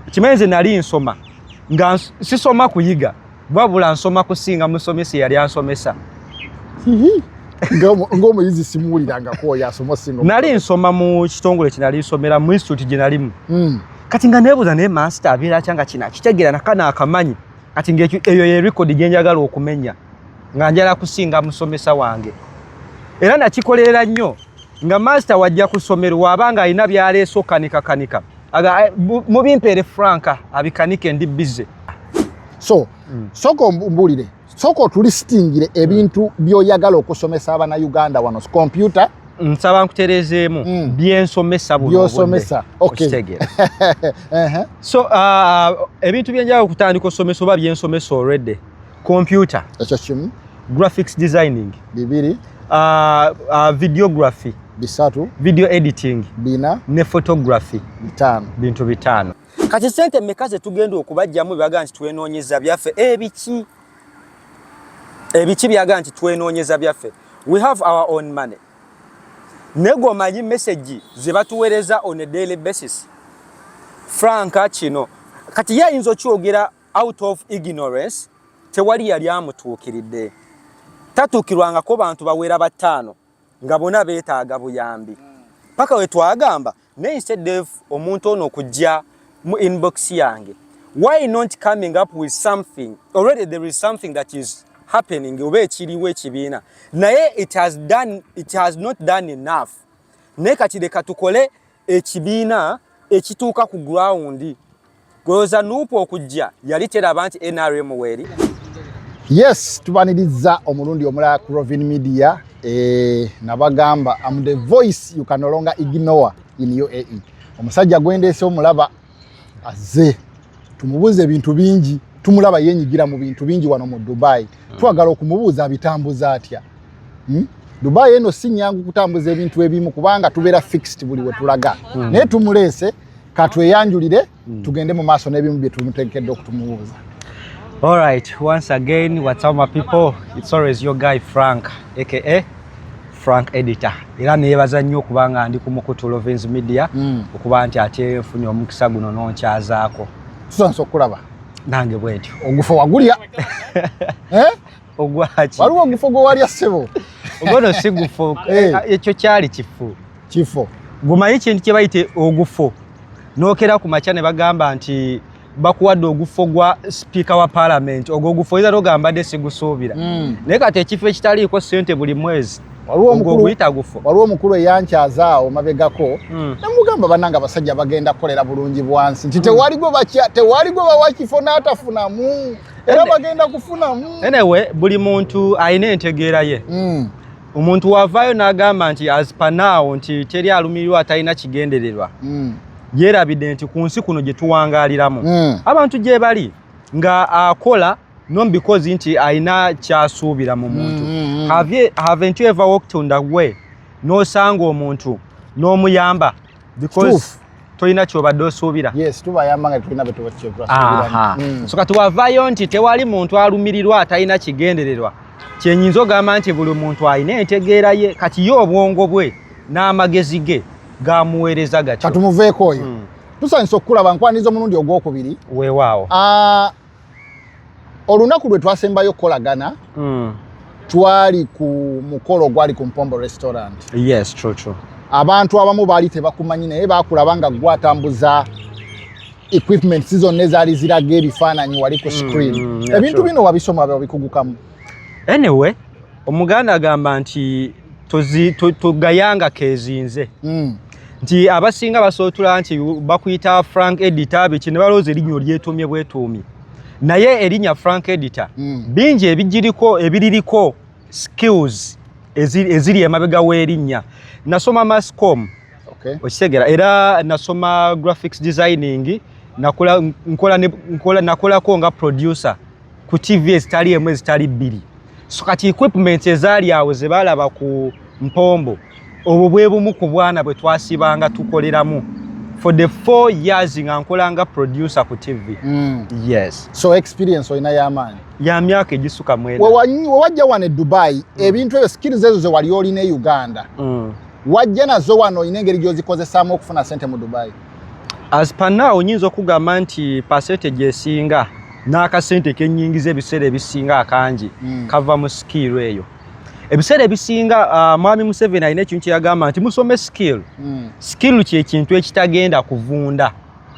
okimanyi nze nali nsoma nga sisoma kuyiga wabula nsoma kusinga musomesa eyali ansomesa ngaomuyizi simuwulirangako oyo asoma singa nali nsoma mu kitongole kinali nsomera mu instituti gye nalimu hmm. kati nga nebuuza naye mansita abeera kyanga kina kitegeera nakana akamanyi kati ngaeyo yerekodi gye njagala okumenya nga njala kusinga musomesa wange era nakikolera nnyo nga mansita wajja ku ssomero waaba nga alina byaleesa okanikakanika aga eh, mubimpere franka abikanike ndi busy so mm. soko mbulire soko tuli stingire ebintu mm. byoyagala okusomesa abana Uganda wano computer nsaba nkuterezeemu mm. byensomesa byosomesa okitegera so uh, ebintu byenjala okutandika osomesa oba byensomesa already computer ekyo kimu graphics designing bibiri uh, uh, videography bisatu video editing bina ne photography bitano bintu bitano kati sente meka zetugenda okubajjamu byaga nti twenoonyeza byaffe ebiki ebiki byaga nti twenoonyeza byaffe we have our own money nego omanyi message zebatuwereza on a daily basis franka kino kati ye ayinza okyogera out of ignorance tewali yali amutuukiridde tatuukirwangako bantu bawera bataano nga bona beetaaga buyambi paka we twagamba naye instead of omuntu ono okujja mu inbox yange why not coming up with something already there is something that is happening oba ekiriwo ekibiina naye it has done, it has not done enough naye kati leka tukole ekibiina ekituuka ku gurawundi gweoza nuupu okujja yali teraba nti nrm weeri yes tubaniriza omulundi omulala ku rovin media eh, nabagamba am the voice you can no longer ignore in uae omusajja gwendeese omulaba azze tumubuuza ebintu bingi tumulaba yenyigira mu bintu bingi wano mu dubai hmm. twagala okumubuuza abitambuza atya hmm? dubai eno si nyangu kutambuza ebintu ebimu kubanga tubeera fixed buli wetulaga hmm. naye tumuleese katweyanjulire tugende mu maaso n'ebimu bye tumutekedde okutumubuuza All right, once again, what's up my people? It's always your guy Frank, aka frank editor era neyebaza nnyo okuba nga ndi ku mukutu lovens media mm. okuba nti ate nfunye omukisa guno nonkyazaako tusansa okulaba nange bwentyo ogufo wagulya eh? ogwaki waliwo ogufo gwewalya ssebo ogono si gufo eh. ekyo kyali kifo kifo gumanyi kintu kyebayite ogufo nokera ku makya ne bagamba nti bakuwadde ogufo gwa sipiika wa palamenti ogwo ogufo oyinza togamba de sigusuubira mm. naye kati ekifo ekitaliiko sente buli mwezi waliwo omukulu eyankyazaawo mabegako mm. nemugamba bananga abasajja bagenda kukolera bulungi bwansi nti mm. tewali gwe bakya tewali gwe bawa kifo n'atafunamu era bagenda kufunamu enewe buli muntu alina entegeera ye mm. omuntu wavaayo n'agamba nti azipanaawo nti teri alumirirwa atalina kigendererwa mm. yeerabidde nti ku nsi kuno gye tuwangaaliramu mm. abantu gye bali nga akola non because nti alina kyasuubira mu muntu mm, mm, mm. haven't you ever walked on the way n'osanga omuntu n'omuyamba because tolina kyobadde osuubira yes tubayamba nga tulina betubakyetuasuubira mm. so kati wavayo nti tewali muntu alumirirwa atalina kigendererwa kyenyinza ogamba nti buli muntu alina entegeera ye kati ye obwongo bwe n'amagezi ge gamuweereza gatyo katumuveeko oyo mm. tusanyisa okukulaba nkwaniriza omulundi ogwokubiri weewaawo ah, olunaku lwe twasembayo okukolagana mm. twali ku mukolo ogwali ku mpombo restaurant yes, true, true. abantu abamu baali tebakumanyi naye bakulaba nga gwatambuza equipment zonna ezaali ziraga ebifaananyi wali ku mm, screen mm, mm, yeah, ebintu sure. bino wabisoma babikugukamu anyway omuganda agamba nti tugayanga kezinze mm. nti abasinga basootula nti bakuyita frank edita biki ne balowooza erinnyo lyetuumye bwetuumye naye erinya frank editor mm. bingi ebigiriko ebiririko skills eziri emabega w'erinnya nasoma mascom okay. okitegera era nasoma graphics designing nakolako nga producer ku TV ezitali emu ezitali bbiri so kati equipment ezaali awo ze baalaba ku mpombo obwo bwe bumu ku bwana bwe twasibanga tukoleramu for the four years nga nkolanga producer ku TV mm. yes so experience olina y'amaanyi ya myaka egisuka mwena wewajja wano e Dubai mm. ebintu ebyo skills ezo ze wali olina e Uganda mm. wajja nazo wano olina engeri gy'ozikozesaamu okufuna sente mu Dubai as per now onyinza okugamba nti pasete gyesinga n'akasente kenyingiza ebiseera ebisinga akangi mm. kava mu sikiiru eyo ebiseera ebisinga uh, mwami museveni alina ekintu kyeyagamba nti musome sikiiru mm. sikiiru kyekintu ekitagenda kuvunda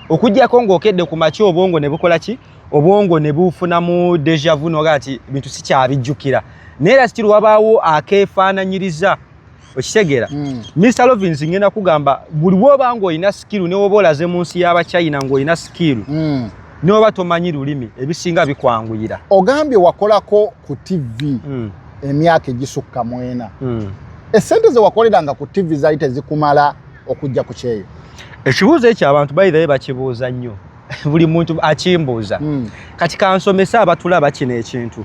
okugyako ng'okedde ku maki obwongo ne bukola ki obwongo ne bufunamu deja vu noga nti bintu sikyabijjukira naye era sikiiru wabaawo akeefaananyiriza okitegeera hmm. mr lovins ngenda kugamba buli woba nga olina sikiru newoba olaze mu nsi y'abachina ng'olina sikiru hmm. newoba tomanyi lulimi ebisinga bikwanguyira ogambye wakolako ku tivi hmm. emyaka egisukka mwena esente zewakoleranga ku tivi zali tezikumala okujja ku kyeyo ekibuuzo ekyo abantu bayirayo bakibuuza nnyo buli muntu akimbuuza kati kansomesa abatulaba kino ekintu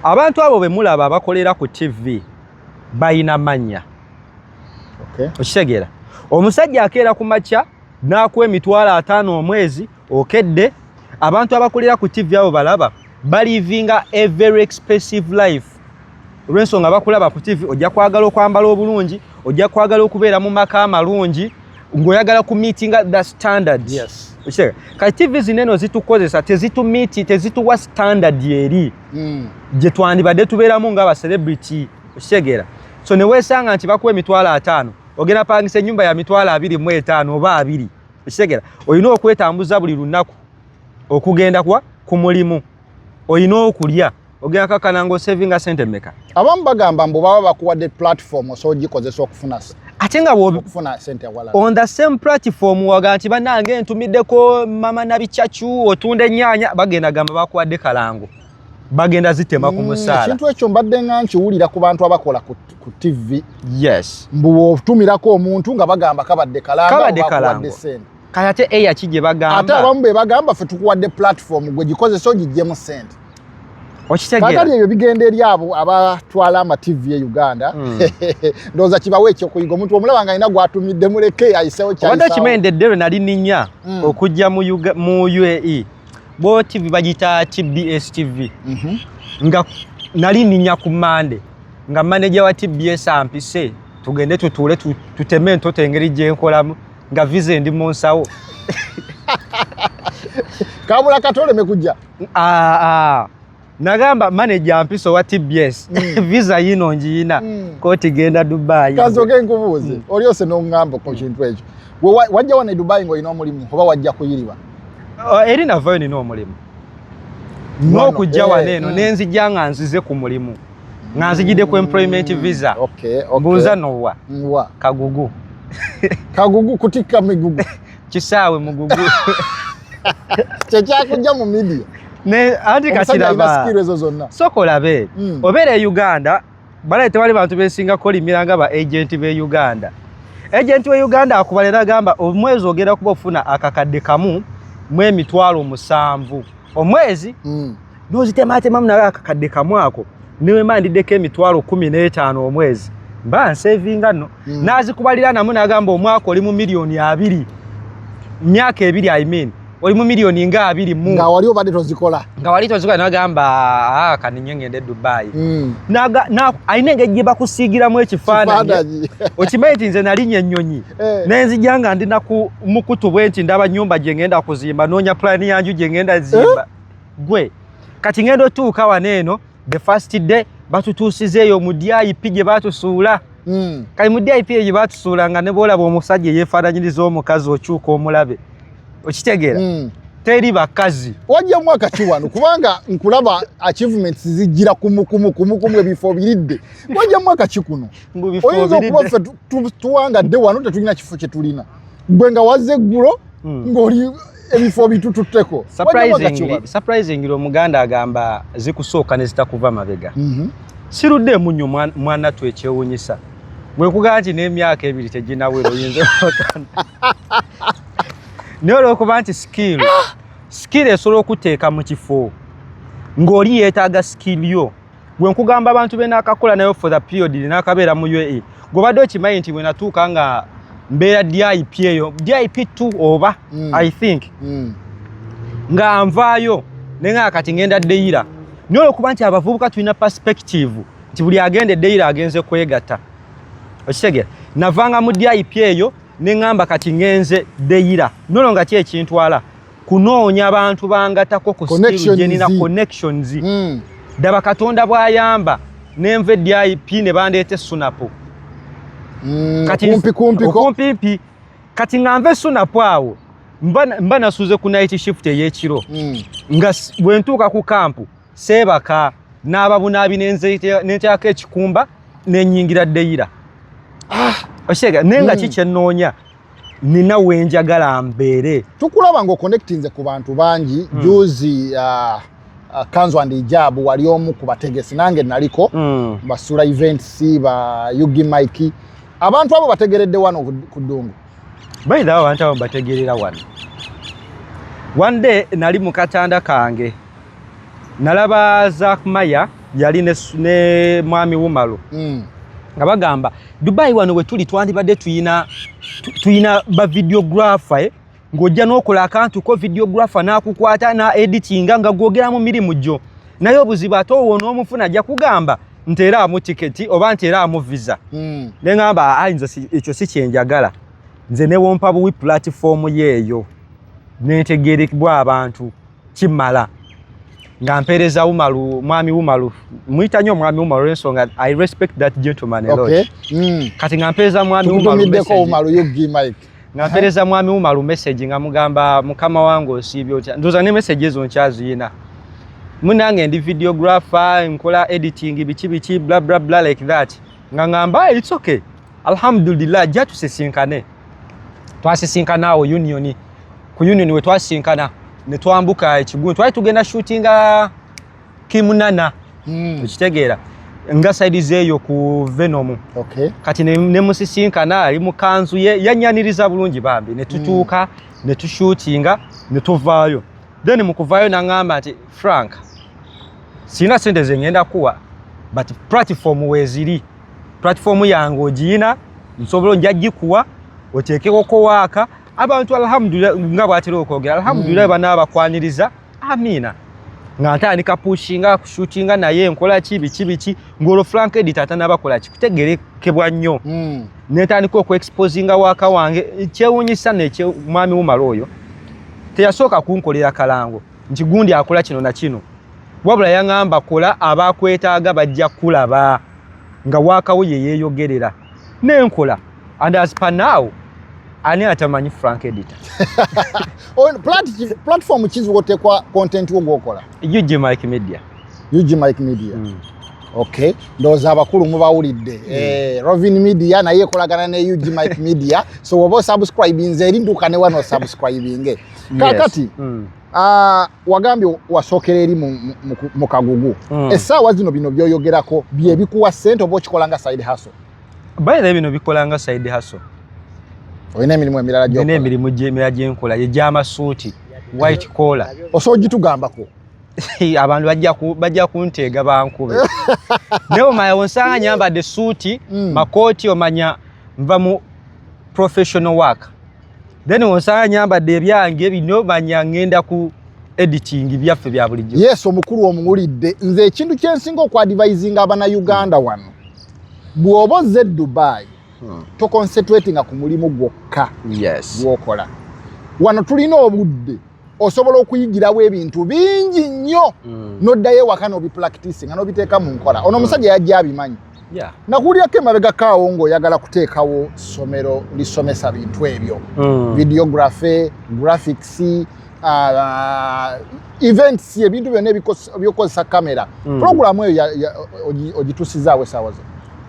abantu abo bemulaba abakolera ku tivi balina mannya okitegeera omusajja akeera ku makya n'akuwa emitwalo ataano omwezi okedde abantu abakulira ku tivi abo balaba balivinga a very expensive life olw'ensonga bakulaba ku tivi ojja kwagala okwambala obulungi ojja kwagala okubeera mu maka amalungi ng'oyagala ku meetinga the standard kati tivi zineno zitukozesa tezitumiiti tezituwa standard eri mm. gye twandibadde tubeeramu nga abacelebrity okitegeera so ne weesanga nti bakuwa emitwalo ataano ogenda pangisa ennyumba ya mitwalo abiri mu etaano oba abiri okitegeera olina okwetambuza buli lunaku okugenda kuwa ku mulimu olina okulya ogenda kakana ngaosevinga sente meka abamu bagamba mbu baba bakuwadde platform osobola ogikozesa okufuna ate nga okufuna sente awala on the same platform waga nti banange ntumiddeko mama nabicacu otunda ennyanya bagenda gamba bakuwadde kalango bagenda zitema ku mm, musaala ekintu ekyo mbadde nga nkiwulira ku bantu abakola ku tv yes mbu otumirako omuntu nga bagamba kabadde kalango kabadde kalango kati ate eya ki gye bagamba ate abamu be bagamba fe tukuwadde platform gwe gikozesa ogiggyemu sente okitegeerakati ebyo bigenda eri abo abatwala ama tv e uganda hmm. ndowooza kibawo ekyokuyiga omuntu omulaba nga alina gwatumidde muleke ayisewo kyobadde okimendedde lwe nali ninya hmm. okujja mu uae bo tv bagita ki bs tv mhm. nga nali ninya ku mande nga maneja wa tbs ampise tugende tutuule tuteme entoto engeri gyenkolamu nga vize ndi mu nsawo kabula katoleme kujja ah, ah. nagamba manaja mpisa owa tbs mm. visa yino njiyina mm. koti genda dubai kazoke nkubuuze mm. olyose nongamba ku kintu ekyo wajja wano e dubai ngaolina omulimu oba wajja kuyiriba oh, eri navayo nina omulimu n'okujja wano eh, eno mm. nenzijja nga nzize ku mulimu nga nzijidde ku employment mm, visa okay, okay. mbuuza nowa nwa kagugu kagugu kutikka migugu kisaawe mugugu kyekyakujja mu midia ne anti kakiraba soko olabe mm. obeera e uganda balaye tewali bantu besinga kolimira nga ba agenti be uganda agenti we uganda akubalera agamba omwezi ogenda kuba ofuna akakadde kamu mu emitwalo musanvu omwezi mm. n'ozitemaatemamu nawe akakadde kamu ako newemba ndiddeko emitwalo kumi n'etaano omwezi mba nsevinga no mm. nazikubalira namu nagamba omwaka oli mu miliyoni abiri myaka ebiri i mean oli mu miliyoni nga abiri mu nga wali obadde tozikola nga wali tozikola nagamba ah, kaninye ngende dubai mm. alina engeri gye bakusiigiramu ekifaananyi okimanyi ti nze nalinya ennyonyi eh. nenzija nga ndi naku mukutu bwe nti ndaba nyumba gye ngenda kuzimba noonya pulaani yanju gye ngenda zimba eh? gwe kati ngenda otuuka wano eno the first day batutuusizeeyo mu dip gye batusuula hmm. kati mu dip eyo gye batusuula nga ne boolaba omusajja eyeefaananyiriza omukazi okyuka omulabe okitegeera hmm. teri bakazi wajja mwaka ki wano kubanga nkulaba achievements zijjira kumukumu kumukumu ebifo biridde wajja mwaka ki kuno oyinza okuba ffe tuwangadde wano tetulina kifo kye tulina gwe nga wazze eggulo hmm. ng'oli ebifo bitututteko surprisingly omuganda agamba zikusooka ne zitakuva mabega mhm. sirudde emunyo mwana tu ekyewunyisa bwekugaa nti n'emyaka ebiri teginawera oyinza naye olwokuba nti skill skill esobola okuteeka mu kifo ng'oli yeetaaga skill yo gwe nkugamba abantu be naakakola nayo for the period naakabeera mu uae gwebadde okimanyi nti bwenatuuka nga mbeera dip eyo dip t oba mm. i think mm. nga nvaayo naye nga kati ngenda deyira naye olwokuba nti abavubuka tulina perspective nti buli agenda edeyira agenze kwegatta okitegera navanga mu dip eyo neŋamba kati ngenze deyira nono nga ki ekintwala kunoonya bantu bangatako ku skill jenina connections mm. daba katonda bwayamba nenva edip ne bandeeta esunapu mm, kumpikumpikumpimpi kati nga nva esunapu awo mba nasuze ku night shift eyekiro mm. nga bwentuuka ku kampu seebaka n'ababunaabi nenteako ekikumba nenyingira deyira ah! okitegera naye nga hmm. ki kyenoonya nina wenjagala mbeere tukulaba nga oconnectinze ku bantu bangi hmm. juzi ah, ah, kanzu and ijabu wali omu ku bategesi nange naliko hmm. basula events ba ugi mike abantu abo bategeredde wano ku ddungu baidha abantu abo bategerera wano one day nali mu katanda kange nalaba zakmaya yali ne, ne mwami wumalu mm. nga bagamba dubai wano wetuli twandibadde tuyina tuyina bavideographer eh? ng'ojja n'okola akantu ko videographer n'akukwata na editinga nga gwogera mu mirimu gyo naye obuzibu ate owo n'omufuna ajja kugamba nti era amu tiketi oba nti era amu visa hmm. ne ŋamba ayinza ekyo si kyenjagala nze newompa buwi pulatifoomu yeeyo nentegerekbwa abantu kimala nga mpereza umalu mwami umalu muyita nyo mwami umalu olwensonga i respect that gentleman a lot okay. mm. kati nga mpereza mwami umalu nga mpereza mwami umalu message nga mugamba mukama wange osiibye otya ndoza ne message ezo nkyaziyina munange ndi videographer nkola editing biki biki bla bla bla like that nga ngamba it's okay alhamdulillah ajja tusisinkane twasisinkana awo union ku union we twasisinkana ne twambuka ekigundu twali tugenda shootinga kimunana hmm. okitegeera mm. nga saidi zeeyo ku venom okay. kati nemusisinkana ali mukanzu ye yanyaniriza bulungi bambi netutuuka mm. netushutinga netuvaayo then mukuvaayo nangamba nti frank sirina sente zengenda kuwa but platform weziri platform yange ogiyina nsobola nja gikuwa oteekeko kowaaka abantu alhamdulillah nga bwatera okwogera alhamdulillah mm. bana abakwaniriza amiina nga ntandika pushinga kushutinga naye nkola ki biki biki ng'olwo frank edit atanabakola ki kutegerekebwa nnyo mm. netandika okuexposinga waaka wange kyewunyisa nekyomwami wumala oyo teyasooka kunkolera kalango nti gundi akola kino na kino wabula yaŋamba kola abakwetaaga bajja kulaba nga waakawo ye yeeyogerera nenkola and as per now ani atamanyi frank editor platform ki zwotekwa content wo gwokola ug mike media ug mike media mm. ok ndowooza abakulu mubawulidde mm. eh, rovin media naye ekolagana ne ug mike media so woba osubscribinze eri dduka ne wano osubscribinge kakati yes. mm. uh, wagambye wasookera eri mu kagugu mm. essaawa zino bino byoyogerako byebikuwa sente oba okikola nga side haso bayira bino bikola nga side haso olina emirimu emirala gyolina emirimu emirala gyenkola egyamasuuti white collar osobola ogitugambako abantu bajja kunteega bankube naye omanya onsanga nyambadde suuti mm. makooti omanya nva mu professional work then onsanga nyambadde ebyange bino manya ngenda ku editing byaffe bya bulijjo yes omukulu omuwulidde nze ekintu kyensinga okuadvising abana uganda wano bw'oba ozze dubai hmm. toconcentratinga ku mulimu gwokka gwokola wano tulina obudde osobola okuyigirawo ebintu bingi nnyo mm. noddayo ewaka nobipulakitisi nga nobiteeka mu nkola ono omusajja yajja abimanyi yeah. nakuwulirako emabega kaawo ngaoyagala kuteekawo ssomero lisomesa bintu ebyo mm. videography graphics uh, events ebintu byonna ebyokukozesa kamera mm. programu eyo ogitusizaawo esaawa zo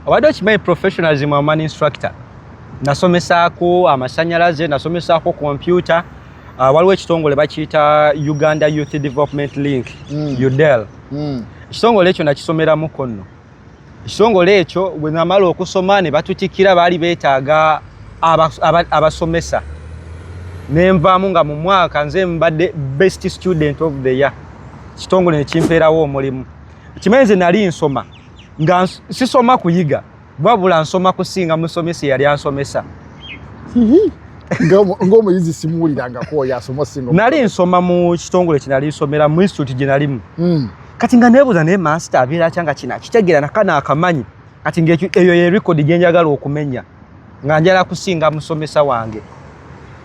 obadde okimanyi professionalism aman instructor nasomesaako amasanyalaze nasomesaako kompyuta uh, waliwo ekitongole bakiyita uganda youth development link mm. udel mm. ekitongole ekyo nakisomeramu konno ekitongole ekyo bwe namala okusoma ne batutikira baali beetaaga abasomesa nenvaamu nga mu mwaka nze mbadde best student of the year kitongole nekimpeerawo omulimu kimanyi nze nali nsoma nga sisoma kuyiga wabula nsoma kusinga musomesa eyali ansomesa ngaomuyizi simuwulirangako oyo asomasinga nali nsoma mu kitongole kinali nsomera mu institute gyenalimu hmm. kati nga nebuuza naye master abeera atya nga kino akitegeera nakana akamanyi kati ngaeyo yerekodi gyenjagala okumenya nga njala kusinga musomesa wange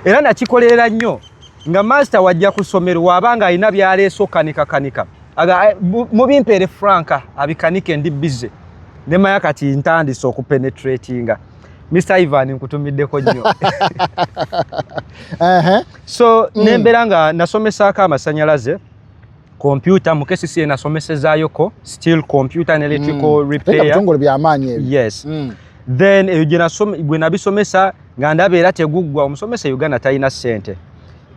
era nakikolerera nnyo nga master wajja ku ssomero waaba nga alina byaleesa okanikakanika eh, mubimpeere franka abikanike ndi bize ne maya kati ntandise okupenetratinga mr ivan nkutumiddeko nnyo so mm. nembeera nga nasomesaako amasanyalaze kompyuta mu kcca nasomesezayoko still computer and electrical mm. repairtongole byamaanyi yes mm. then eyo gwe nabisomesa nga ndaba era teguggwa omusomesa e uganda talina ssente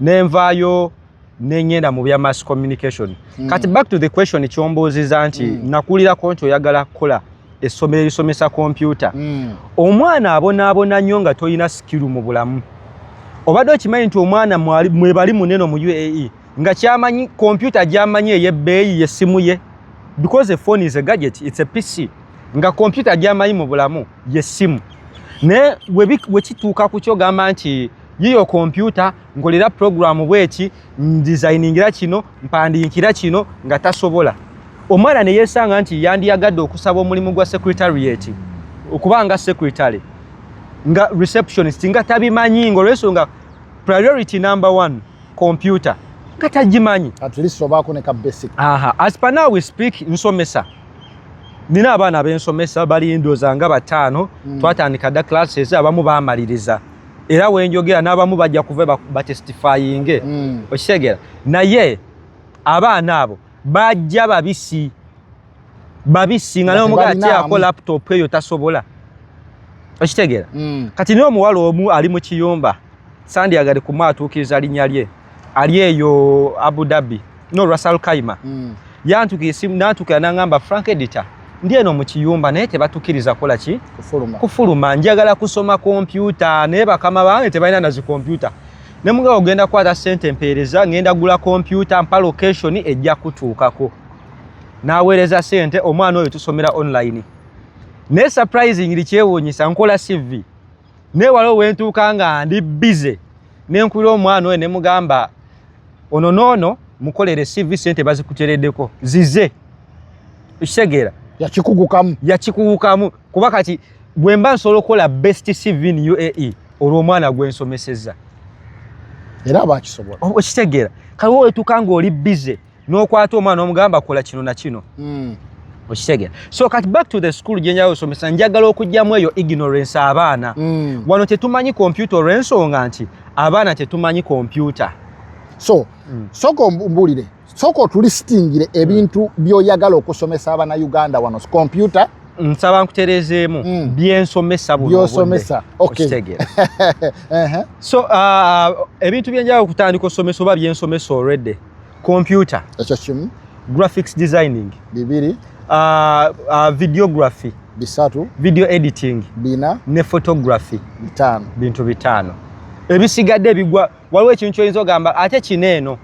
nenvaayo nenyenda mu bya mass communication mm. kati back to the question kyombuuziza nti mm. nakulirako nti oyagala kukola essomero erisomesa kompyuta mm. omwana abonaabona nnyo nga tolina sikiru mu bulamu obadde okimanyi nti omwana mwebali munene mu uae nga kyamanyi kompyuta gyamanyi eyebbeeyi yessimu ye because a phone is a gadget it's a pc nga kompyuta gyamanyi mu bulamu yessimu naye wekituuka ku kyogamba nti yiyo kompyuta nkolera pulogulaamu bweki ndizayiningira kino mpandiikira kino nga tasobola omwana ne yeesanga nti yandiyagadde okusaba omulimu gwa secretariat okubanga secretary nga receptionist nga tabimanyi ngaolwensonga priority number one computer nga tagimanyi as per now we speak nsomesa nina abaana bensomesa bali ndoza nga bataano hmm. twatandika dda classes abamu bamaliriza era wenjogera n'abamu bajja kuva batestifayinge mm. okitegera naye abaana abo bajja babisi babisi nga nomuga akyako laptop eyo tasobola okitegera mm. kati nomuwala omu ali mu kiyumba sandi agade kumuatuukiriza linya lye ali eyo Abu Dhabi no Russell Kaima mm. yantuka esimu natuka nangamba Frank Editor ndi eno mu kiyumba naye tebatukiriza kola ki kufuluma kufuluma njagala kusoma kompyuta naye bakama bange tebalina nazi kompyuta ne mugabo ogenda kwata sente mpeereza ngenda gula kompyuta mpa location ejja kutuukako naweereza sente omwana oyo tusomera online naye surprisingly kyewuunyisa nkola CV naye waliwo wentuuka nga ndi bize nenkulira omwana oyo nemugamba ono noono mukolere cv sente bazikuteredeko zize ekitegeera yakikugukamu yakikugukamu kuba kati bwemba nsobola okukola best cv in uae olwomwana gwensomeseza era abakisobola okitegeera kaliwo wetuuka nga oli bize n'okwata omwana omugamba kola kino na kino hmm. okitegera so kati back to the school gye njagala osomesa njagala okugyamu eyo ignorance abaana hmm. wano tetumanyi kompyuta olw'ensonga nti abaana tetumanyi kompyuta so hmm. sooka ombulire sooka otulistingire ebintu by'oyagala okusomesa abana uganda wano kompyuta nsaba nkutereezeemu mm. byensomesa byosomesa okitegera so uh, ebintu byenjagala okutandika osomesa oba byensomesa already computer ekyo kimu graphics designing bibiri uh, uh, videography bisatu video editing bina ne photography bitano bintu bitano ebisigadde bigwa waliwo ekintu kyoyinza ogamba ate kino eno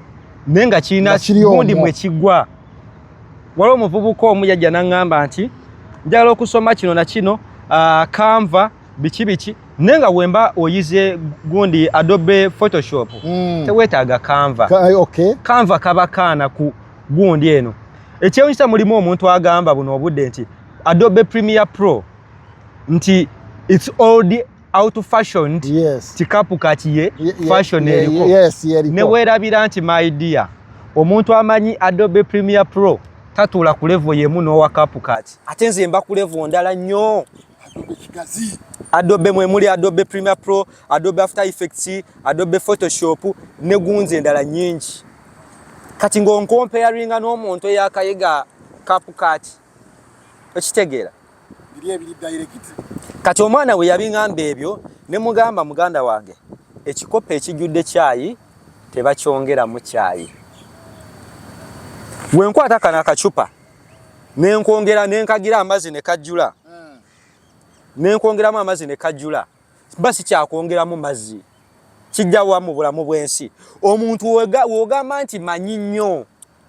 naye nga kirina gundi mwe kigwa waliwo omuvubuka omu yajja naŋŋamba nti njagala okusoma kino na kino uh, kanva biki biki naye nga wemba oyize gundi adobe photoshop mm. tewetaaga kanva Ka, eh, okay. kanva kaba kaana ku gundi eno ekyewunyisa mulimu omuntu agamba buno obudde nti adobe premier pro nti its old out fashioned yes. tikapu kakiye ye, fashion ye, eriko yes, newerabira nti my dear omuntu amanyi adobe premier pro tatuula ku levo yemu n'owakapu kati ate nze mba ku levo ndala nnyo Adobe Kigazi. Adobe mwe muli Adobe Premiere Pro, Adobe After Effects, Adobe Photoshop ne gunzi endala nyingi. Kati ngo nkomparinga n'omuntu eyakayiga CapCut. Okitegeera? Biri ebiri direct. Kati omwana we yabingamba ebyo ne mugamba muganda wange ekikopo ekijjudde kyayi tebakyongeramu kyayi. Wenkwata kana kachupa. ne nkwongera ne nkagira amazzi ne kajjula hmm. ne nkwongeramu amazzi ne kajjula mba sikyakwongeramu mazzi kijjawa mu bulamu bw'ensi omuntu w'ogamba nti manyi nnyo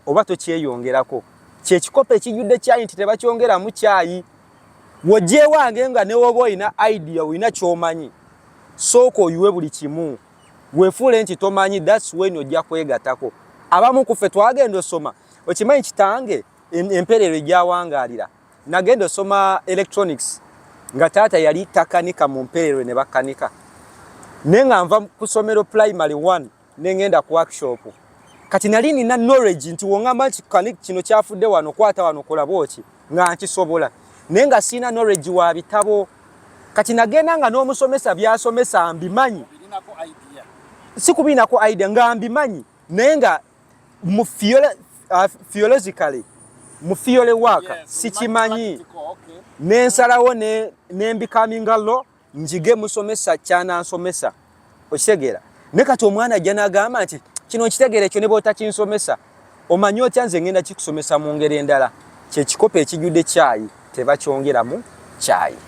oba tokyeyongerako kyekikopo ekijjudde kyayi nti tebakyongeramu kyayi wojjewange nga newoba olina idea olina kyomanyi sooka oyiwe buli kimu wefuule nti tomanyi that's when ojja kwegatako abamu kuffe twagenda osoma okimanyi kitange emperero egyawangaalira nagenda osoma electronics nga taata yali takanika mu mperero ne bakanika naye nga nva ku somero primary one ne ngenda ku workshop kati nali nina knowledge nti wongamba nti kino kyafudde wano kwata wano kolaboki nga nkisobola naye nga sirina noregi wa bitabo kati nagenda nga n'omusomesa byasomesa mbimanyi si kubiinako idea nga mbimanyi naye nga mu fiologically uh, mu fiole waaka sikimanyi nensalawo nembikaminga lo njige musomesa kyanansomesa okitegeera ne kati omwana ajja n'agamba nti kino nkitegeera ekyo ne bwotakinsomesa omanyi otya nze ngenda kikusomesa mu ngeri endala kyekikopo ekijjudde kyayi tebakyongeramu kyayi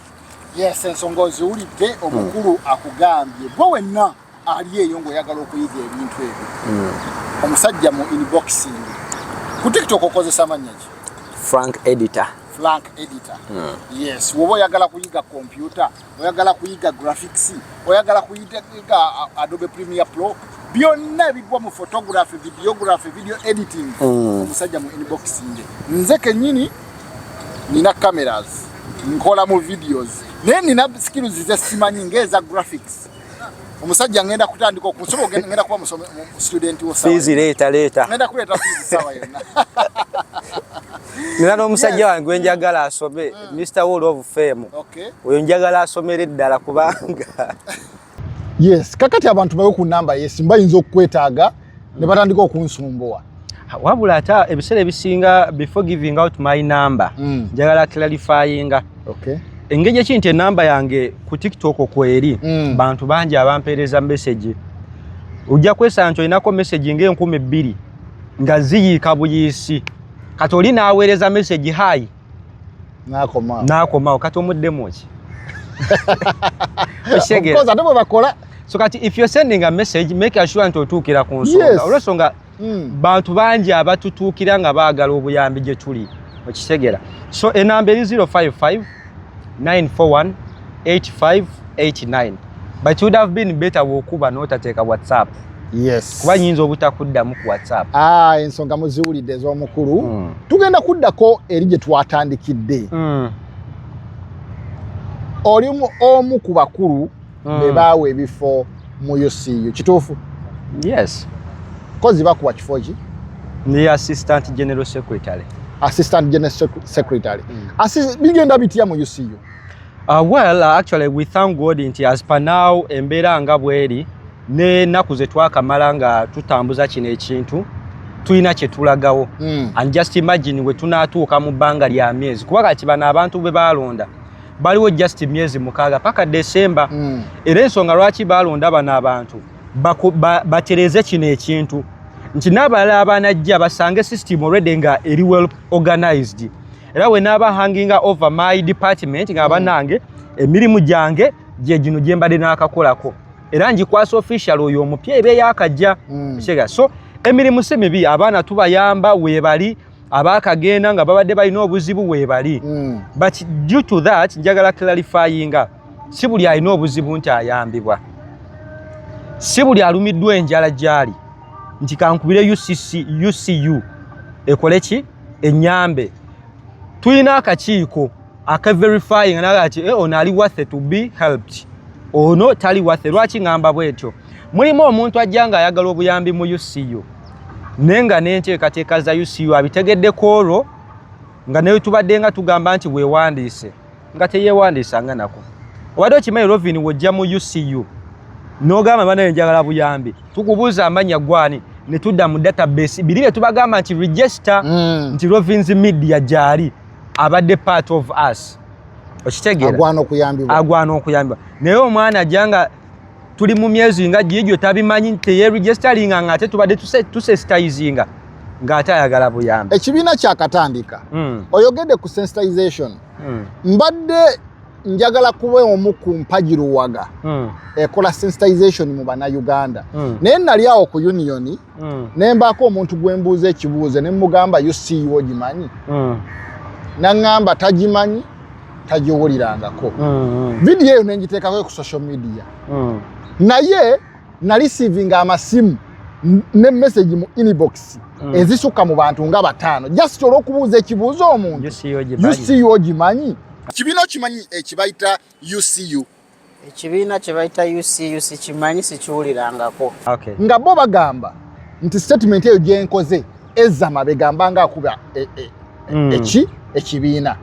yes ensonga oziwulidde omukulu mm. akugambye gwe wenna ali eyo ng'oyagala okuyiga ebintu ebyo hmm. omusajja mu inboxing ku tiktok okozesa amannya ki frank editor frank editor hmm. yes woba oyagala kuyiga kompyuta oyagala kuyiga graphics oyagala kuyiga uh, adobe premier pro byonna ebigwa mu photography videography video editing hmm. omusajja mu inboxing nze kenyini nina cameras nkola mu videos naye nina skills zesimanyi ngaeza graphics omusajja ngenda kutandika okusobola ogenda ngenda kuba musomi student wo fees leta leta ngenda kuleta fees sawa yona nina n'omusajja wange gwe njagala asome mr wall of fame oyo njagala asomere ddala kubanga yes kakati abantu bawe ku namba yesimu bayinza okukwetaaga ne batandika okunsumbuwa wabula ate ebiseera ebisinga before giving out my number mm. njagala mm. clarifyinga okay. engeri eki nti enamba yange ku tiktok okweri mm. bantu bangi abampeereza message ojja kwesanga nti olinako message nga enkumi bbiri nga ziyiika buyiisi kati oli naaweereza message hayi nakomawo nakomawo kati omuddemu ki okitegera ate bwe bakola so kati if you're sending a message make sure nti otuukira ku nsonga olwensonga hmm. bantu bangi abatutuukira nga baagala obuyambi gye tuli okitegera so enamba eri 055 941 8589 but you would have been better wokuba notateeka whatsapp yes kuba nyinza obutakuddamu ku whatsapp ah ensonga muziwulidde ez'omukulu mm. tugenda kuddako eri gye twatandikidde mm. oli omu ku bakulu mm. be baawa ebifo mu ucu kituufu yes kozi bakuwa kifo ki ndi assistant general secretary assistant general secretary mm. bigenda bitya mu ucu Uh, well, uh, actually we thank God nti as per now embeera nga bweri ne naku ze twakamala nga tutambuza kino ekintu tulina kye tulagawo mm. and just imagine we tunatuuka mu bbanga lya myezi kuba kati bano abantu be baalonda baliwo just myezi mukaaga paka December mm. era ensonga lwaki baalonda bano abantu batereze ba, kino ekintu nti n'abalala abanajja basange system already nga eri well organized era we naaba hanginga over my department nga banange emirimu gyange gye gino gye mbadde n'akakolako era ngikwasa official oyo omupya eba eyakajja mm. kitegeera so emirimu si mibi abaana tubayamba weebali abaakagenda nga babadde balina obuzibu weebali mm. but due to that njagala clarifyinga si buli alina obuzibu nti ayambibwa si buli alumiddwa enjala gyali nti kankubire ucc ucu ekole ki enyambe tulina akakiiko aka verifying naga ati eh, ono ali worth to be helped ono tali worth lwaki ngamba bwetyo mulimu omuntu ajja nga ayagala obuyambi mu UCU naye nga n'enteekateeka za UCU abitegedde ku olwo nga naye tubadde nga tugamba nti weewandiise nga teyewandiisa nga nako obadde okimanyi rovin wojja mu ucu nogamba banaye njagala buyambi tukubuuza amanya gwani netudda mu database biri byetubagamba nti register mm. nti rovins media gyali abadde part of us okitegeera agwana okuyambibwa naye omwana ajanga tuli mu myezi nga giigyo tabimanyi teyeregisteringa nga ate tubadde tusensitizinga ng'ate ayagala buyambi ekibiina kyakatandika hmm. oyogedde ku sensitization hmm. mbadde njagala kuba omu ku mpagi luwaga hmm. ekola sensitization mu banauganda naye nali awo ku uniyoni ne mbaako omuntu gwe mbuuza ekibuuzo ne mugamba uceo ogimanyi naŋŋamba tagimanyi tagiwulirangako mm-hmm. vidiyo eyo nengiteekako ku social media mm. naye nalisivinga amasimu ne message mu inbox mm. ezisukka mu bantu nga bataano just olwokubuuza ekibuuzo omuntu ucu ogimanyi kibiina okimanyi ekibayita ucu ekibiina kye bayita ucuc kimanyi sikiwulirangako okay. nga bo bagamba nti statement eyo gyenkoze ezama begamba nga akuba e, e, mm. eki ekibiina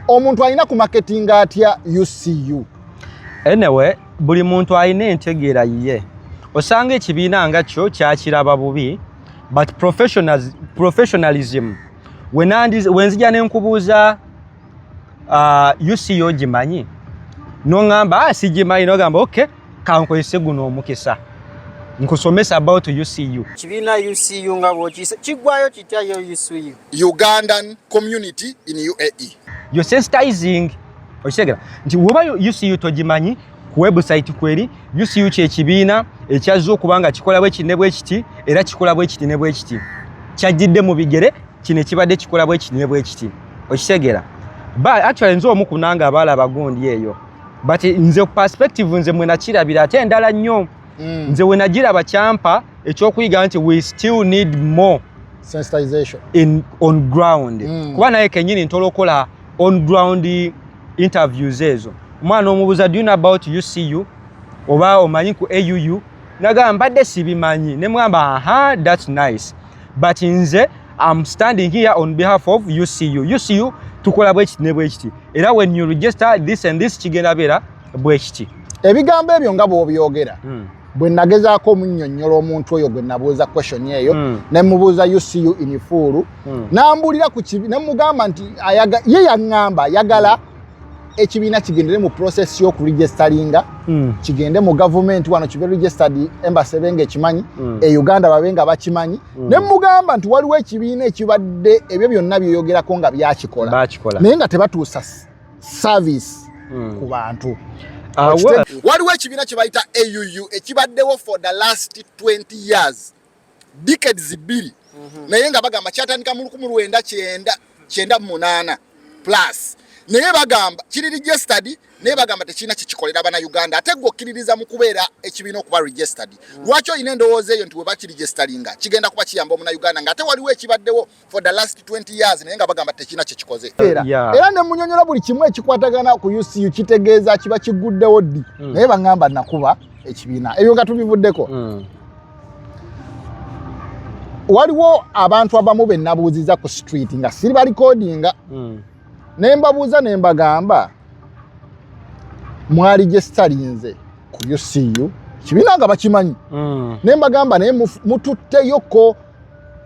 omuntu alina ku marketing atya ucu anyway buli muntu alina entegeera yiye osanga ekibiina nga kyo kyakiraba bubi but professionalism wenandiz, wenzija nenkubuuza ah, uc yogimanyi nongamba ah, sigimanyi nogamba ok kankozese guno omukisa nkusomesa about ucu kibiina ucu nga bwokiyise kigwayo kitya yo ucu ugandan community in uae yo sensitizing okitegera nti woba ucu togimanyi ku website kweri UCU kye kibiina ekyazze okuba nga kikola bwe kinne bwe kiti era kikola bwe kiti ne bwe kiti kyajjidde mu bigere kino ekibadde kikola bwe kiti ne bwe kiti okitegera but actually nze omu kunanga abaala abagundi eyo but nze ku perspective nze mwe nakirabira ate endala nnyo mm. nze we nagiraba kyampa ekyokuyiga nti we still need more sensitization in on ground mm. kuba naye kenyini ntola okola on ground interviews ezo omwana omubuza do you know about ucu oba omanyi ku auu nagamba mbadde sibimanyi nemwamba aha thats nice but nze am standing here on behalf of ucu ucu tukola bwekiti ne bwekiti era when you register this and this kigenda beera bwekiti ebigambo ebyo nga bwobyogera hmm. bwe nagezaako omunnyonnyola omuntu oyo gwe nabuuza question eyo mm. ne mubuuza ucu inifuulu mm. n'ambuulira ku kibi ne mugamba nti ye yaŋŋamba ayagala ekibiina kigendere mu process y'okuregisteringa mm. kigende mu gavumenti wano kibe registered embassy ebe nga ekimanyi mm. e uganda babe nga bakimanyi mm. ne mugamba nti waliwo ekibiina ekibadde ebyo byonna byeyogerako nga byakikola naye nga tebatuusa service hmm. ku bantu ah, waliwo ekibiina kye bayita AUU ekibaddewo for the last 20 years decades bbiri mhm. naye nga bagamba kyatandika mu lukumi lwenda kyenda kyenda munaana plus naye bagamba kiri registered naye bagamba tekirina kyekikolera bana uganda ate gwe okkiririza mu kubeera ekibiina okuba registered hmm. lwaki olina endowooza eyo nti webakirigistaringa kigenda kuba kiyamba omuna uganda nga ate waliwo ekibaddewo for the last 20 years naye nga bagamba tekina kye kikoze era yeah. era ne munyonyola buli kimu ekikwatagana ku UCU kitegeeza kiba kiguddewo ddi mm. naye bangamba nakuba ekibiina ebyo nga tubivuddeko mm. waliwo abantu abamu be nabuuziza ku street nga siri balikodinga mm. ne mbabuuza ne mbagamba mwali gye sitalinze ku UCU kibiina nga bakimanyi mm. ne mbagamba naye mututteyoko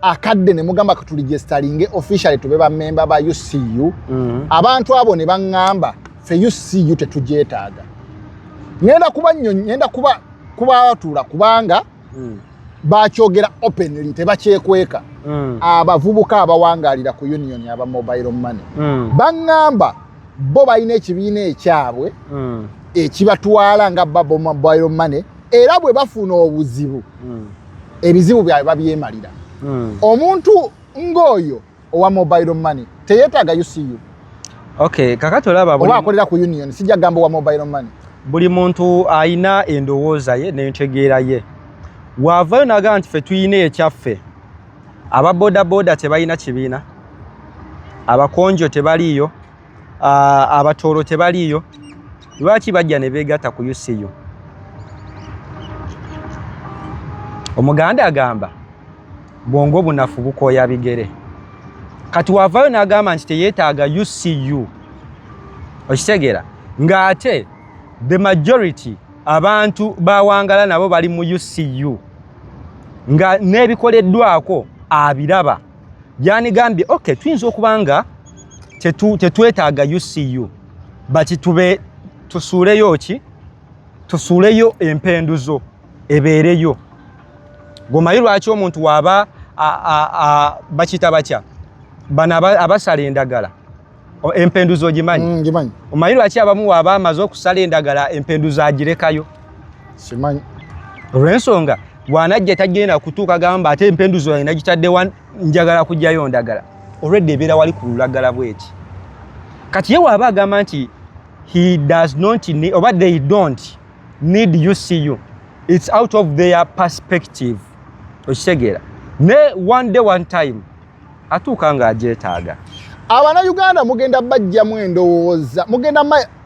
akadde ne mugamba katuligyesitalinge officially tube bamemba ba ucu mm. abantu abo ne baŋŋamba fe ucu tetugyetaaga ŋenda kuba nnyo ŋenda kuba kubatuula kubanga mm. bakyogera openly tebakyekweka mm. abavubuka abawangaalira ku union aba mobile money mm. baŋŋamba bo balina ekibiina ekyabwe mm. ekibatwala nga babo mobile money era bwe bafuna obuzibu mm. ebizibu byabwe babyemalira hmm. omuntu ng'oyo owa mobile money teyetaaga ucu okay kakati olaba oba akolera ku union sijja gamba owa mobile money buli muntu ayina endowooza ye nentegeera ye waavayo naga nti fe tuyina ekyaffe aba bodaboda tebalina kibiina abakonjo tebaliiyo abatooro tebaliiyo lwaki bajja ne beegatta ku ucu omuganda agamba bwongo bunafu bukooya bigere kati wavayo n'agamba nti teyeetaaga ucu okitegeera ng'ate the majority abantu bawangala nabo bali mu ucu nga n'ebikoleddwako abiraba yanigambye okay tuyinza okuba nga tetwetaaga ucu bati tube tusuuleyo ki tusuuleyo empendu zo ebeereyo gomayi lwaki omuntu waaba bakiyita batya bano abasala endagala Empenduzi ogimanyi? Mm, ngimanyi. Omanyi lwaki abamu waaba amaze okusala endagala empenduzi agirekayo? Simanyi. Olw'ensonga bw'anajja tagenda kutuuka gamba ate empenduzi wange nagitadde wa njagala kujjayo ndagala. Already ebeera wali ku lulagala bw'eti. Kati ye waaba agamba nti he does not need, oba they don't need you see you. It's out of their perspective. Okitegeera? Ne one day one time atuuka nga agyetaaga abana uganda mugenda bajjamu endowooza mugenda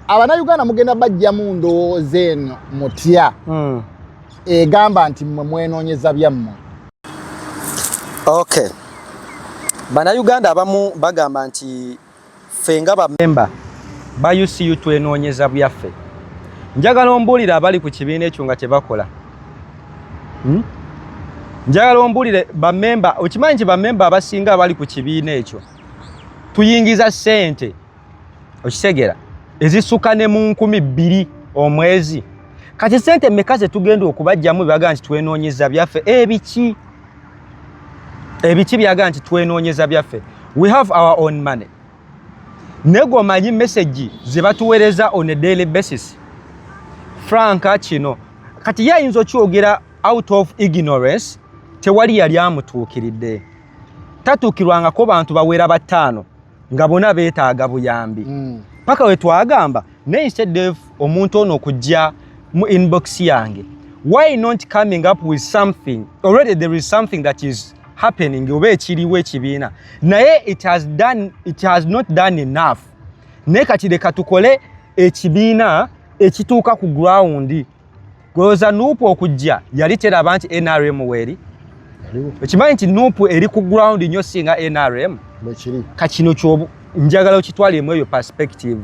abana uganda mugenda bajjamu ndowooza eno mutya hmm. egamba nti mwe mwenoonyeza byammwe okay bana uganda abamu bagamba nti ffe nga bamemba ba ucu twenoonyeza byaffe njagala ombuulire abali ku kibiina ekyo nga tebakola hmm? njagala ombuulire bamemba okimanyi nti bamemba abasinga abali ku kibiina ekyo tuyingiza ssente okitegera ezisukka ne mu nkumi bbiri omwezi kati ssente mmeka ze tugenda okubajjamu bebaga nti twenoonyeza byaffe ebiki eh, ebiki byaga nti twenoonyeza byaffe we have our own money nego manyi message ze batuweereza on a daily basis franka kino kati ye ayinza okyogera out of ignorance tewali yali amutuukiridde tatuukirwangako bantu bawera bataano nga bona betaaga buyambi mm. paka wetwagamba naye instead of omuntu ono okujja mu inbox yange why not coming up with something already there is something that is happening oba ekiriwo ekibiina naye it has done, it has not done enough naye kati leka tukole ekibiina ekituuka ku ground gweoza nupu okujja yali teraba nti nrm weeri ekimanyi nti nupu eri ku ground nyo singa nrm kakino kyobu njagala okitwalemu eyo perspective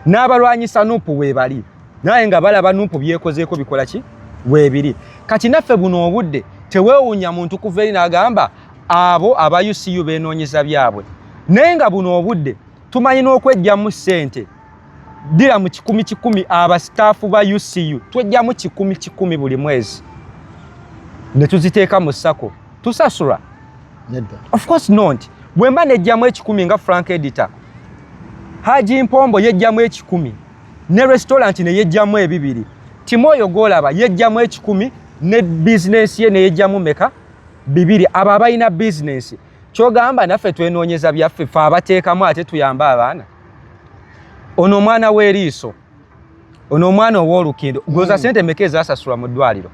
n'abalwanyisa nupu webali naye nga balaba nupu byekozeeko bikola ki webiri kati naffe buno obudde tewewunya muntu kuva eri nagamba abo aba ucu benoonyeza byabwe naye nga buno obudde tumanyi n'okwejjamu ssente dira mu kikumi kikumi aba staff ba UCU twejjamu kikumi kikumi buli mwezi ne tuziteeka mu sako tusasura nedda of course not bwemba nejjamu ekikumi nga Frank editor Haji Mpombo yejjamu ekikumi ne restaurant ne yejjamu ebibiri Timoyo golaba yejjamu ekikumi ne business ye ne yejjamu meka bibiri aba abayina business kyogamba naffe twenoonyeza byaffe fe abateekamu ate tuyambe abaana ono omwana w'eriiso ono omwana ow'olukindo goza hmm. sente meka ezasasulwa mu ddwaliro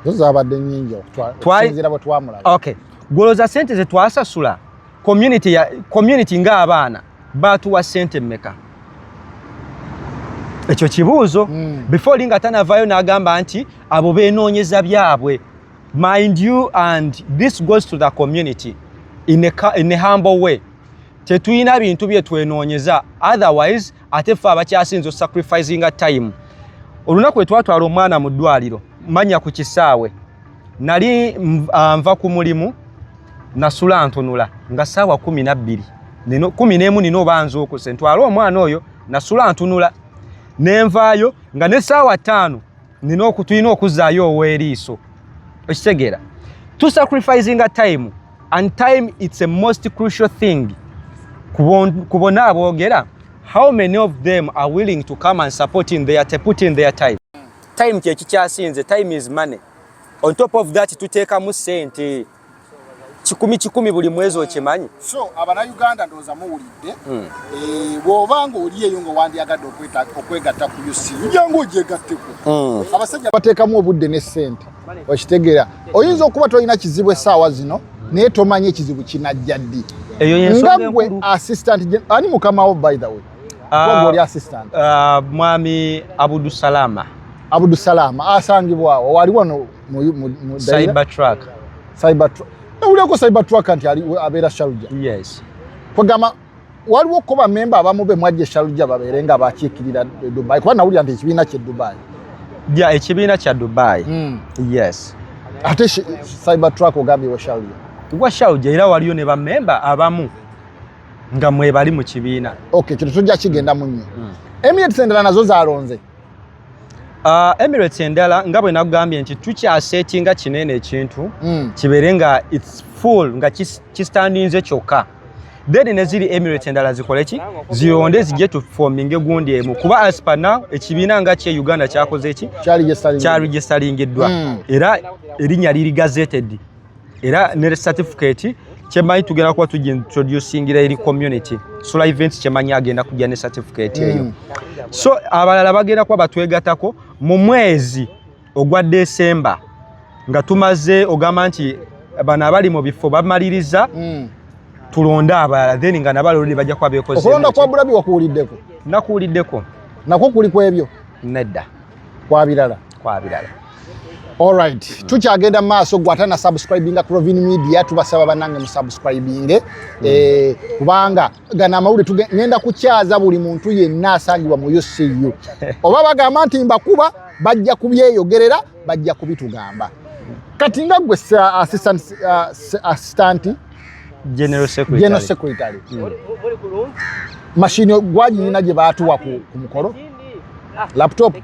zozabadde nyingi okusinzira bwe twamulaba okay goloza sente ze twasasula community ya community nga abaana batuwa sente meka ekyo kibuuzo mm. before linga tanavayo nagamba nti abo benoonyeza byabwe mind you and this goes to the community in a, in a humble way tetuyina bintu bye twenoonyeza otherwise ate ffe abakyasinza osacrificinga time olunaku lwe twatwala omwana mu ddwaliro manya ku kisaawe nali ah, nva ku mulimu nasula ntunula nga saawa kumi nabbiri kumi n'emu nina obanza okuse ntwale omwana oyo nasula ntunula nenvaayo nga ne saawa ttaano nina okutulina okuzzaayo ow'eriiso okitegeera to sacrificinga time and time it's a most crucial thing ku bona aboogera how many of them are willing to come and support in their, put in their time time kyekikyasinze time is money on top of that tuteekamu sente kikumi kikumi buli mwezi okimanyi so abanauganda ndowooza muwulidde hmm. eh, bwoba nga oli eyo nga wandyagadde okwegatta ku usi ujanga ogyegatteko hmm. abasajja bateekamu obudde ne ssente okitegera oyinza okuba tolina kizibu essaawa zino naye tomanyi ekizibu kinajja ddi nga gwe assistant ani mukamawo by the way ah, oli assistant ah, mwami abudusalama abudusalama asangibwawo wali wano mu mu mu cyber truck cyber truck nawuleko cyber truck nti ali abera sharuja yes kogama waliwo ko ba member abamu be mwaje sharuja babere nga bakikirira dubai kwa nawulira nti kibina kye dubai ya ekibina kya dubai mm. yes ate cyber truck ogambi wa sharuja wa sharuja ila waliyo ne ba member abamu nga mwebali mu kibiina okay kino tujja kigenda munyo mm. emirates endala nazo zalonze Uh, Emirates endala nga bwe nagambye nti tukyasetinga kinene ekintu mm. kibeere nga its full nga kistandinze kyokka then neziri Emirates endala zikole ki ziyonde zijje tu forming egundi emu kuba as per now ekibiina nga kye Uganda kyakoze ki kya registeringiddwa mm. era erinya liri gazetted era ne certificate kyemanyi tugenda kuba tujja introducingira eri community sula event kyemanyi agenda kujja ne certificate eyo mm. so abalala bagenda kuba batwegatako mu mwezi ogwa desemba nga tumaze ogamba nti bano abali mu bifo bamaliriza mm. tulonde abalala then nga nabalo luli bajja kuba bekoze okulonda kwa bulabi wakuwuliddeko nakuwuliddeko nakwo kuli kwebyo nedda kwa birala kwa birala Alright, mm. tukyagenda mu maaso gwe ate na subscribinga Crovin Media tubasaba banange mu subscribinge mm. eh, kubanga gana amawulire tugenda kukyaza buli muntu yenna asangibwa mu UCU oba bagamba nti mbakuba bajja kubyeyogerera bajja kubitugamba kati nga gwe assistant, uh, assistant general secretary, general secretary. Mm. mashini gwaginyina gye baatuwa ku mukolo laptop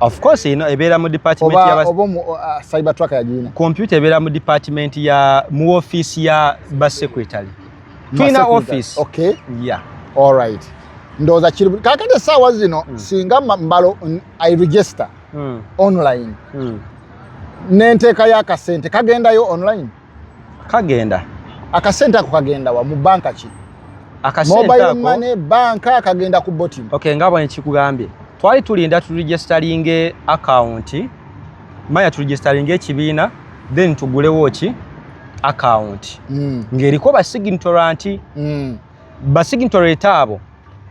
of course ino ebeera mu department ya oba uh, cyber truck ya jina computer ebeera mu department ya mu office ya ba secretary twina office okay yeah all right ndoza kiri kakade sawa zino mm. singa mbalo i register mm. online mm. nenteka ya kasente kagendayo online kagenda akasente ako kagenda wa mu banka ki mobile money banka kagenda ku bottom okay nga bwe nkikugambye twali tulinda tu registering account maya tu registering ekibiina then tugulewo ki account mm. ngeriko ba signatoranti mm. ba signatoranti abo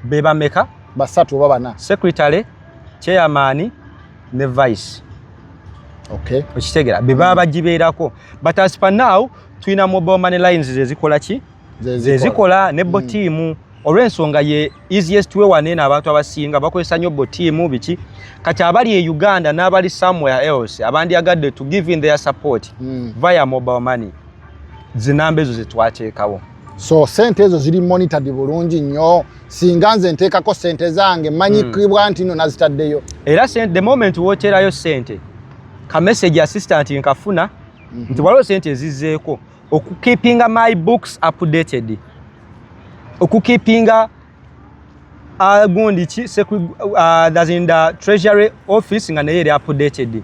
bebameka basatu oba bana secretary chairman ne vice okay okitegera be baba bagibeerako but as per now tulina mobile money lines zezikola ki zezikola ne bo mm. tiimu olw'ensonga ye easiest way wane eno abantu abasinga bakozesa nnyo bo tiimu biki kati abali e uganda n'abali somewhere else abandyagadde to give in their support mm. via mobile money zinamba ezo zetwateekawo so sente ezo ziri monitored bulungi nnyo singa nze nteekako sente zange manyikibwa hmm. nti no nazitaddeyo era the moment woteerayo sente ka message assistant nkafuna mhm. nti waliwo sente ezizzeeko okukipinga my books updated okukipinga uh, gundi ki uh, that's in the treasury office nga naye eri updated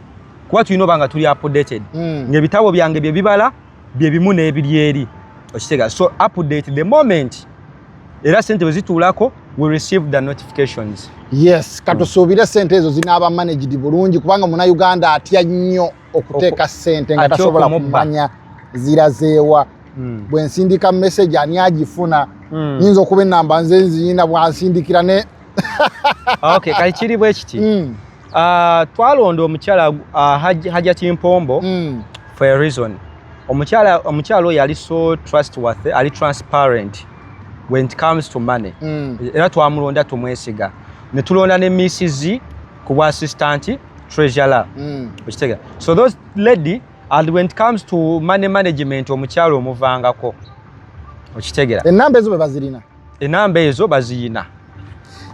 kuba tulina oba nga tuli updated mm. ngaebitabo byange byebibala byebimu n'ebiri eri okitega so update the moment era sente bwe zituulako we receive the notifications yes katusuubire sente ezo zinaaba managed bulungi kubanga muna uganda atya nnyo okuteeka ssente nga tasobola kumanya zirazeewa hmm. bwe nsindika message ani agifuna hmm. nyinza okuba enamba nze nziyina bwansindikira ne okay kali kiri bwe kiti hmm. ah, twalonda omukyala ah, hajja kimpombo for a reason omukyala omukyala oyo ali so trustworthy ali transparent when it comes to money era twamulonda tumwesiga ne tulonda ne misisi ku bwa assistant treasurer mm. okitega so those lady and when it comes to money management omukyalo omuvangako okitegera enamba ezo bebazirina enamba ezo baziyina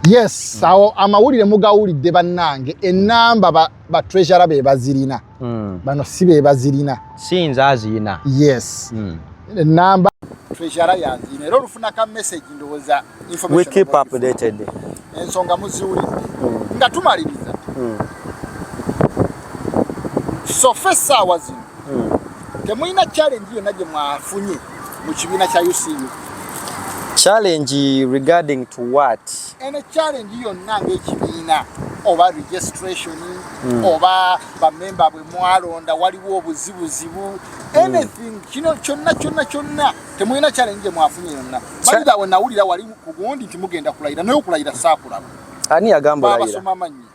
yes mm. awo amawulire mugawulidde bannange enamba ba, ba treasurer bebazirina mm. bano si bebazirina siyinza aziyina yes mm. enamba treasurer yaziyina era olufuna ka message ndowooza we keep updated ensonga muziwulidde hmm. nga tumaliriza hmm. sofa essaawa zino hmm. temulina challenge yonna gye mwafunye mu kibiina kya ucu challenge regarding to what ene challenge yonna ngaekibiina oba registration mm. oba bamemba bwe mwalonda waliwo obuzibuzibu hmm. anything kino kyonna kyonna kyonna Temulina challenge gye mwafunye yonna. Mayinja awo nawulira wali ku gundi nti mugenda kulayira naye okulayira saakulaba. Ani yagamba olayira? Baabasoma amannya.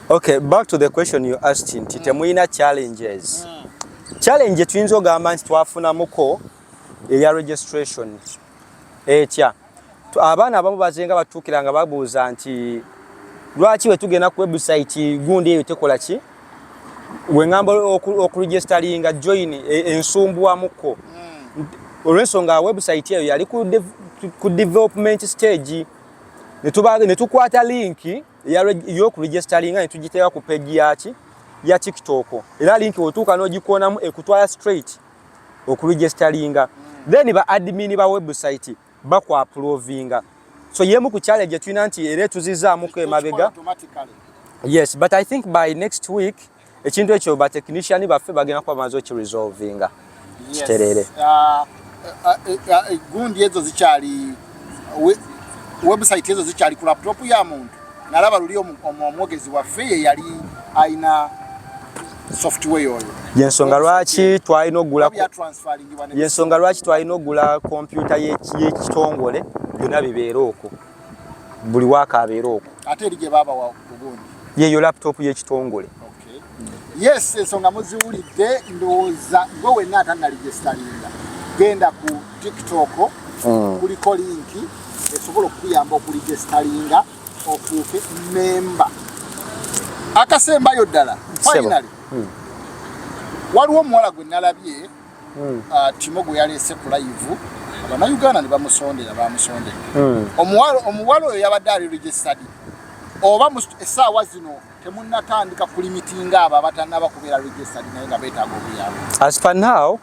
Okay, back to the question you asked nti mm. temulina challenges. Mm. Challenge tuyinza ogamba nti twafunamuko eya registration. etya abaana abamu bazenga batuukira nga babuuza nti lwaki wetugenda ku website gundi eyo tekola ki wengamba okuregisteringa join e, ensumbuwamuko hmm. olwensonga website eyo yali ku development stage netukwata linki yokuregisteringa netugiteeka ku pegi yaki ya tiktok era linki wetuuka nogikoonamu ekutwala straight okuregisteringa then ba admin ba website bakwaprovinga so yemu ku challenge gyetulina nti era etuzizaamuko emabega yes but i think by next week ekintu ekyo batechnician baffe bagenda kuba bamaze okiresolvinga kitereere uh, uh, uh, gundi ezo zikyali website ezo zikyali ku laptop ya muntu nalaba luli omwogezi waffe ye yali alina software oyo yensonga lwaki twalina okugula yensonga lwaki twalina okugula kompyuta y'ekitongole byonna bibeera okwo buli waaka abeera okwo ate eri gye baabawa ugundi yeyo laptop y'ekitongole waffe yes ensonga muziwulidde ndowooza gwe wenna atanalijesitalinga genda ku tiktok mm. kuliko linki esobola okukuyamba okulijesitalinga ofuuke memba akasembayo ddala finally mm. waliwo omuwala gwe nalabye mm. uh, timo gwe yaleese ku layivu abanauganda ne bamusondera bamusondera hmm. omuwala oyo yabadde ali registered oba esaawa zino temunnatandika kulimitinga abo abatannaba kubeera registered naye nga beetaaga obuyambi as per now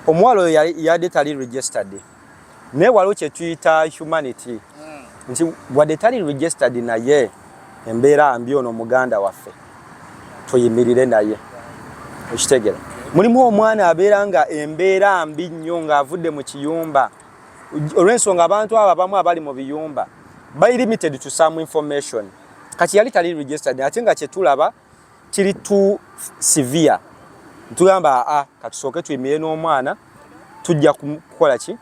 omuwala oyo yadde tali registered naye waliwo kye tuyita humanity hmm. nti wadde tali registered naye embeera mbi ono muganda waffe tuyimirire naye okitegera mulimu omwana abeera nga embeera mbi nnyo ng'avudde mu kiyumba olw'ensonga abantu abo abamu abali mu biyumba by limited to some information kati yali tali registered ate nga kyetulaba kiri tu severe ntugamba a katusooke tuyimire n'omwana tujja kukola ki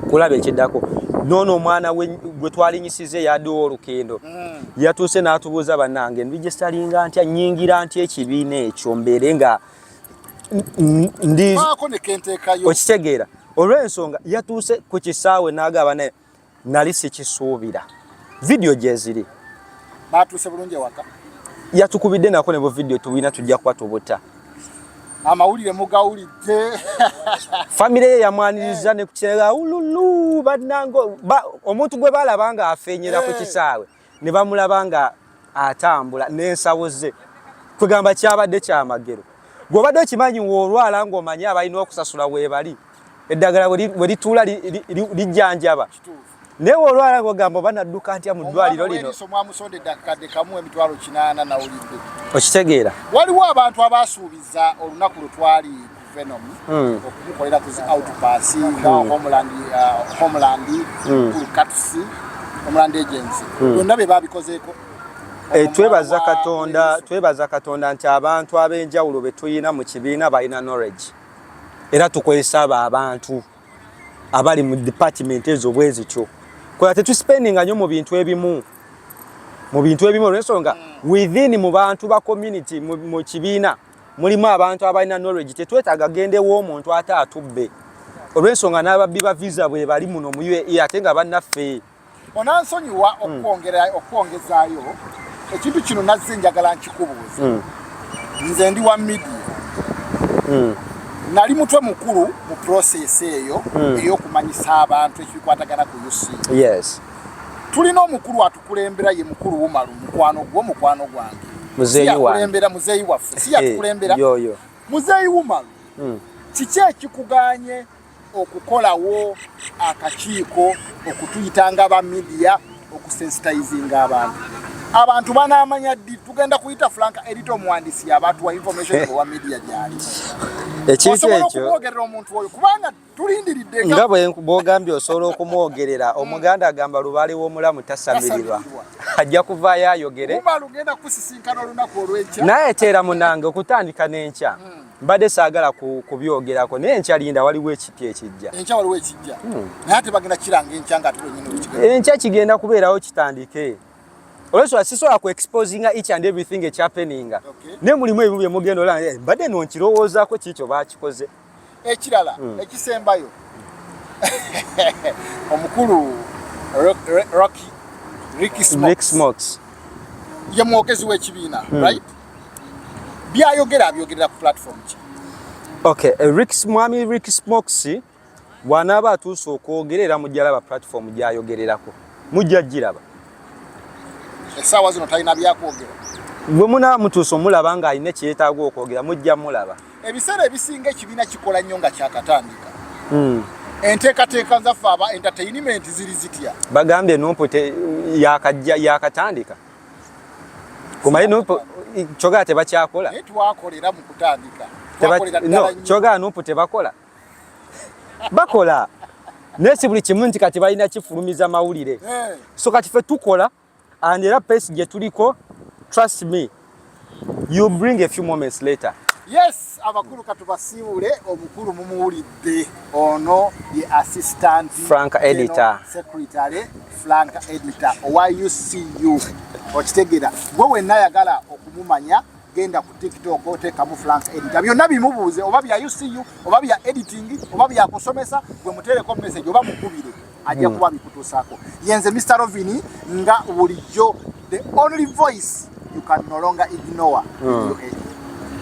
kulaba ekiddako noono omwana gwe twalinyisiza eyadiwo olukendo mm. yatuuse n'atubuuza bannange ndigestalinga ntya nyingira ntya ekibiina ekyo mbeere nga ndiokitegera olw'ensonga yatuuse ku kisaawe n'agaba naye nali sikisuubira vidiyo gyeziri baatuuse bulungi ewaka yatukubidde nako ne buvidiyo tubulina tujja kuba tubuta amawulire mugawulidde famire ye yamwaniriza ne kukiraga ululu bannange omuntu gwe balaba nga afenyera ku eh. kisaawe ne bamulaba nga atambula n'ensawo ze kwegamba kyabadde kyamagero gwobadde okimanyi woolwala ng'omanyi abalina okusasula weebali eddagala bwe lituula lijjanjaba naye woolwala ng'ogamba oba nadduka ntya mu ddwaliro lino okitegeera waliwo abantu abaasuubiza olunaku lwe twali Venom hmm. okumukolera ku zi outpass hmm. nga Homeland uh, Homeland hmm. Cats Homeland Agency byonna bye babikozeeko eh, twebaza katonda twebaza katonda nti abantu ab'enjawulo be tulina mu kibiina balina knowledge era tukozesa abo abantu abali mu department ezo bwe zityo kola tetuspendinga nnyo mu bintu ebimu mu bintu ebimu olwensonga within mu bantu ba community mu kibiina mulimu abantu abalina knowledge tetwetaaga gendewo omuntu ate atubbe olw'ensonga n'ababbi ba visa bwe bali muno mu uae ate nga bannaffe onansonyiwa hmm. okwongezaayo ekintu kino nazze njagala nkikubuuza hmm. nze ndi wa midia hmm. nali mutwe mukulu mu process eyo eyokumanyisa abantu ekibikwatagana ku uc tulina omukulu kulembera ye mukulu wumalu mukwano gwo mukwano gwange muzeeyi wange kulembera muzeeyi waffe si yatukulembera yo yo muzeeyi wumalu hmm. kiki ekikuganye okukolawo akakiiko okutuyita nga ba midiya okusensitizinga abantu abantu banamanya ddi tugenda kuyita frank erita omuwandisi yabatwa information owa midiya gyali ekintu ekyo okwogerera omuntu oyo kubanga nga bwogambye osobola okumwogerera hmm. omuganda agamba lubaale w'omulamu tasamirirwa ajja kuvaayo ayogere naye teera munange okutandika n'enkya hmm. mbadde saagala kubyogerako naye enkya linda waliwo ekipya ekijja enkya hmm. kigenda kubeerawo kitandike olwensonga sisobola ku exposinga each and everything ekyapeninga naye mulimu ebimu byemugenda olaa eh, mbadde nonkirowoozaako kiikyo baakikoze Ekirala hmm. ekisembayo omukulu Rocky Ricky Smokes ye mwogezi w'ekibiina hmm. right byayogera abyogerera ku platform ki okay eh, Rick mwami Rick Smokes bw'anaaba atuuse okwogera era mujja laba platform gy'ayogererako mujja giraba essaawa zino talina byakwogera bwe munaamutuusa omulaba ng'alina ekyetaaga okwogera mujja mulaba ebiseera ebisinga ekibiina kikola nnyo nga kyakatandika hmm. enteekateeka zaffe aba entertainment ziri zitya bagambye nupu yakajja yakatandika kumaye nupu kyogaa tebakyakola twakolera mu kutandika kyogaa nupu tebakola bakola naye si buli kimu nti kati balina kifulumiza mawulire eh. so kati fe tukola and era pace gye tuliko trust me you bring a few moments later yes abakulu katubasiibule omukulu mumuwulidde ono ye assistant frank editor secretary frank editor owa ucu okitegera gwe wenna yagala okumumanya genda ku tiktok otekamu frank editor byonna bimubuuze oba bya ucu oba bya editing oba byakusomesa gwe mutereko message oba mukubire ajja hmm. kuba bikutuusaako yenze mr rovini nga bulijjo the only voice you can no longer ignore hmm.